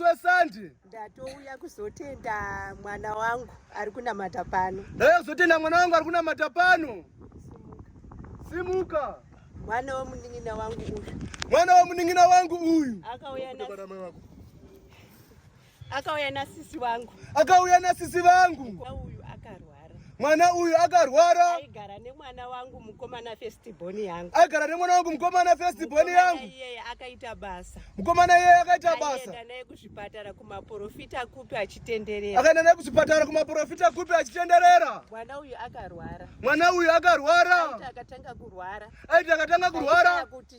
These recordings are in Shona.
Sande. Ndatouya kuzotenda mwana wangu ari kunamata pano. Ndauya kuzotenda mwana wangu ari kunamata pano. Simuka. Mwana womunin'ina wangu uyu. Mwana womunin'ina wangu uyu. Akauya na Akauya na sisi wangu. Akauya na sisi vangu. Uyu akarwa. mwana uyu akarwara aigara nemwana wangu mukomana festiboni yangu aigara nemwana wangu mukomana festiboni yangu iyeye akaita basa mukomana iyeye akaita basa akaenda naye kuzvipatara kumaporofita kupi achitenderera akaenda naye kuzvipatara kumaporofita kupi achitenderera mwana uyu akarwara mwana uyu akarwara aiti akatanga kurwara aiti akatanga kurwara kuti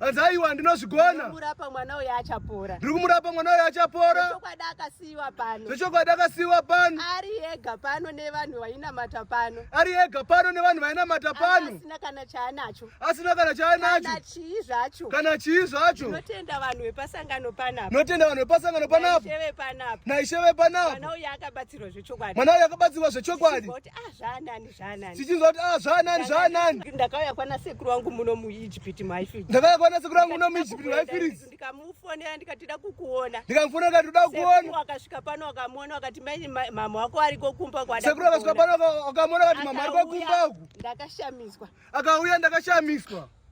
Hanzi aiwa ndinozvigona. Ndikumurapa mwana uyo achapora. Ndikumurapa mwana uyo achapora. Zvechokwadi akasiiwa pano. Zvechokwadi akasiiwa pano. Ari ega pano nevanhu vainamata pano. Ari ega pano nevanhu vainamata pano. Asina kana chaanacho. Asina kana chaanacho. Kana chii zvacho. Kana chii zvacho. Tinotenda vanhu vepasangano panapa. Tinotenda vanhu vepasangano panapa. Naisheve panapa. Naisheve panapa. Mwana uyo akabatsirwa zvechokwadi. Mwana uyo akabatsirwa zvechokwadi. Kuti ah zvaanani. tichinzwa kuti ah zvanani zvanani ndakauya kwana sekuru wangu muno muijipiti maifiri ndakauya kwana sekuru wangu muno muijipiti maifiri ndikamufonera ndikati da kukuona ndikamufonera ndikati da kukuona akasvika pano akamuona akati mai mama wako ariko kumba kwada sekuru akasvika pano akamuona akati mama ariko kumba ndakashamiswa akauya ndakashamiswa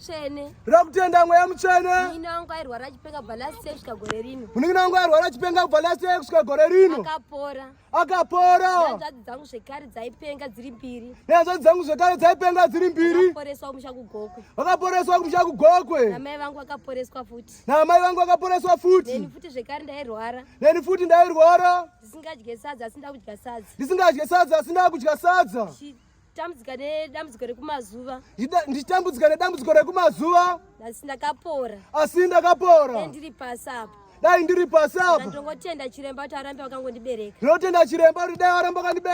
tsvene ra kutenda mweya mutsvene munin'ina wangu airwara achipenga kubva last year kusvika gore rino munin'ina wangu airwara achipenga kubva last year kusvika gore rino akapora akapora hanzvadzi dzangu zvekare dzaipenga dziri mbiri nehanzvadzi dzangu zvekare dzaipenga dziri mbiri vakaporeswa kumusha kugokwe vakaporeswa kumusha kugokwe namai vangu vakaporeswa futi namai vangu vakaporeswa futi neni futi zvekare ndairwara neni futi ndairwara ndisingadye sadza asi ndakudya sadza ndisingadye sadza asi ndakudya sadza Tambudzika nedambudziko rekumazuva. Nditambudzika nedambudziko rekumazuva. Asi ndakapora. Asi ndakapora. Dai ndiri pasi apa. Dai ndiri pasi apa. Ndongotenda chiremba kuti arambe wakangondibereka. Ndinotenda chiremba kuti dai waramba wakandibereka.